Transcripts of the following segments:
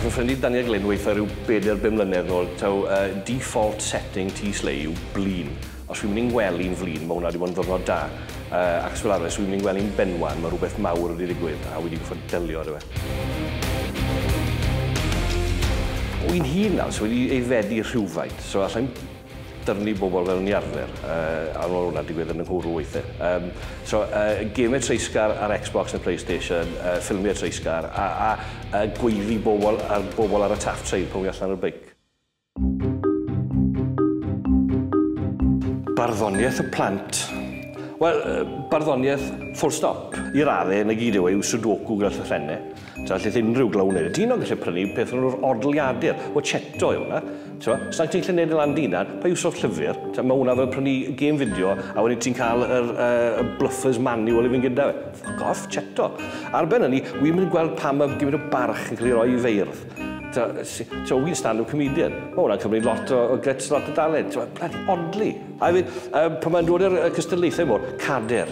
Fy ffrind i Daniel Glyn weitha rhyw bedair bum mlynedd nôl taw yy default setting tŷ Slei yw blin. Os wi'n mynd i'n well un flin, mae hwnna wedi bod yn ddwrnod da. Uh, ac os fel arfer, os wi'n mynd i'n well un benwan, mae rhywbeth mawr wedi digwydd a wedi gwybod delio â fe. Wy'n hir nawr, so wedi ei fedi rhywfaint, so allai'n dyrnu bobl fel ni arfer, uh, a mae hwnna digwydd yn y nghwrw weithiau. Um, so, uh, gemau treisgar ar Xbox neu Playstation, uh, ffilmiau treisgar, a, a, a gweiddi bobl ar, bobl ar y taff train pan wy allan ar y beic. Barddoniaeth y plant. Wel, barddoniaeth full stop. I radde, na gyd yw e yw sudoku gyda llythrenne. Ta, allith unrhyw glaw wneud e. Dyn o'n gallu prynu peth o'n nhw'r odliadur, o cheto yw hwnna. Ta, os ti'n gallu wneud e lan dyn dan, pa yw sort llyfr? Ta, mae hwnna fel prynu gêm fideo a wedyn ti'n cael yr uh, bluffers manual i fynd gyda fe. Ffwc off, cheto. Ar ben hynny, wy'n mynd gweld pam mae gymryd o barch yn cael ei roi i feirdd. Ti'n win stand up comedian. Mae hwnna'n cymryd lot o, o guts, lot o dalent. Ti'n bloody odli. I mean, um, pan mae'n dod i'r cystadlaethau mor, cader,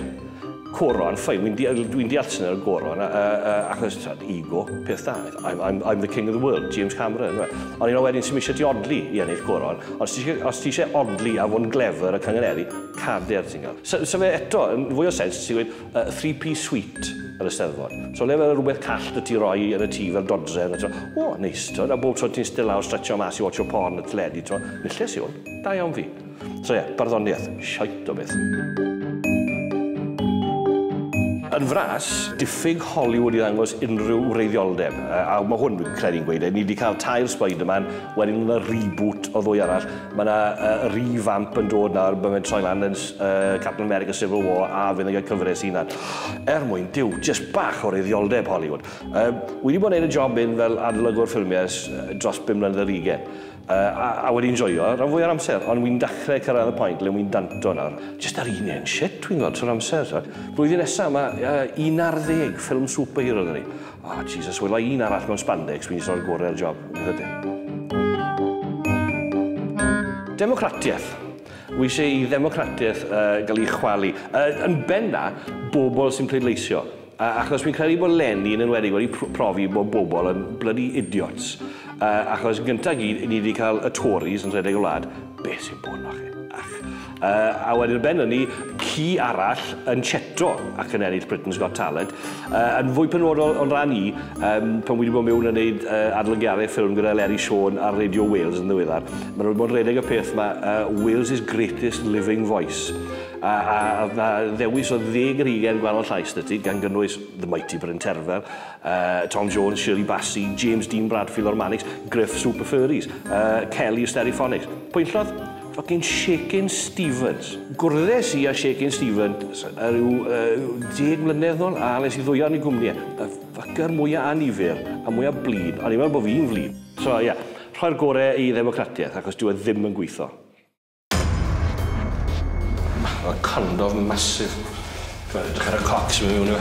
coron, ffain, dwi'n di, dwi deall sy'n ar y coron, uh, uh, achos ti'n ego, peth da. I'm, I'm, I'm the king of the world, James Cameron. Ond un o wedyn sy'n eisiau ti odli i ennill coron. Os ti, os ti eisiau odli a fod yn glefer a canganeri, cader ti'n gael. So, so fe eto, yn fwy o sens, ti'n gweud, y three piece suite yr Eisteddfod. So le fel rhywbeth call dy ti roi yn y tŷ fel dodredd a ti'n o neis t'mod a bob tro ti'n iste lawr stretchio mas i watcho porn y teledu t'mod nilles yw hwn, da iawn fi. So ie, barddoniaeth, shite o beth. Yn fras, diffyg Hollywood i ddangos unrhyw wreiddioldeb. A, a mae hwn, dwi'n credu'n gweud, e, ni wedi cael tair Spider-Man, wedyn yna reboot o ddwy arall, Mae yna uh, revamp yn dod nawr, mae'n troi lan yn uh, Captain America Civil War a fydd yn cael cyfres i na'n er mwyn diw, just bach o reidioldeb Hollywood. Uh, wedi bod yn gwneud y job un fel adlygwr ffilmiau dros 5 mlynedd ar ugen. Uh, a, a wedi'n joio rhan fwy o'r amser, ond wy'n dachrau cyrraedd y pwynt le wy'n danto nawr. Just ar un un shit, wy'n gweld trwy'r amser. Blwyddyn nesaf, mae uh, 11 ffilm superhero dyn ni. Ah Jesus, wela i un arall mewn spandex, fi'n jyst roi'r gore ar y job. Democratiaeth. Wy eisiau i ddemocratiaeth uh, gael ei chwalu. Uh, yn benna, bobl sy'n pleidleisio. Uh, achos fi'n credu bod Lenny yn enwedig wedi profi bod bobl yn bloody idiots. Uh, achos gyntaf gyd, ni wedi cael y Tories yn rhedeg y wlad. Be sy'n bod na chi? Ach, Yy, a wedyn ar ben hynny, ci arall yn cheto ac yn ennill Britain's Got Talent. Yy, yn fwy penodol o'n ran i, um, pan wedi bod mewn yn neud uh, adolygiadau ffilm gyda Leri Siôn ar Radio Wales yn ddiweddar, maen nhw wedi bod yn redeg y peth yma, uh, Wales' greatest living voice. A, a, a na ddewis o ddeg yr hugen gwahanol llais dy ti, gan gynnwys The Mighty Bryn Terfel, uh, Tom Jones, Shirley Bassey, James Dean Bradfield o'r Manics, Griff Super Furries, uh, Kelly Stereophonics. Pwyntllodd? Ffycin Shakin Stevens. Gwrddes i â Shakin Stevens yy ryw yy deg mlynedd nôl a nes i ddwyo yn ei gwmni e. Y ffycr mwya annifyr a mwya blin. O'n i'n meddwl bo' fi'n flin. So ie, rhoi'r gore i ddemocratiaeth achos dyw e ddim yn gweitho. Math o condof massive. T'mod edrych ar y coc sy mewn yno.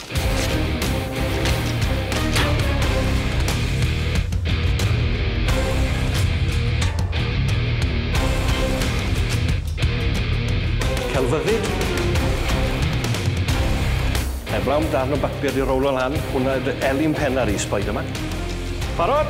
Celfyddyd. Heblaw am darn o bapur 'di rowlo lan, hwnna yw dy elin penna di, Spiderman. Barod?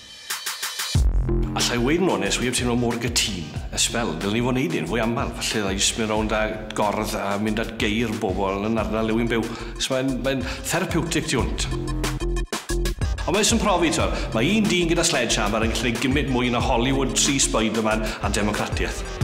Alla i weud yn onest, wi heb teimlo mor gytun ers sbel. Dylen ni fod yn neud hyn fwy aml, falle ddylai jyst mynd rownd a gordd a mynd at geir bobl yn ardal le wi'n byw, achos mae'n mae'n therapiwtig tu hwnt. Ond mae jyst yn profi, t'wod, mae un dyn gyda sledgehammer yn gallu neud gymint mwy na Hollywood, tri Spiderman a democratiaeth.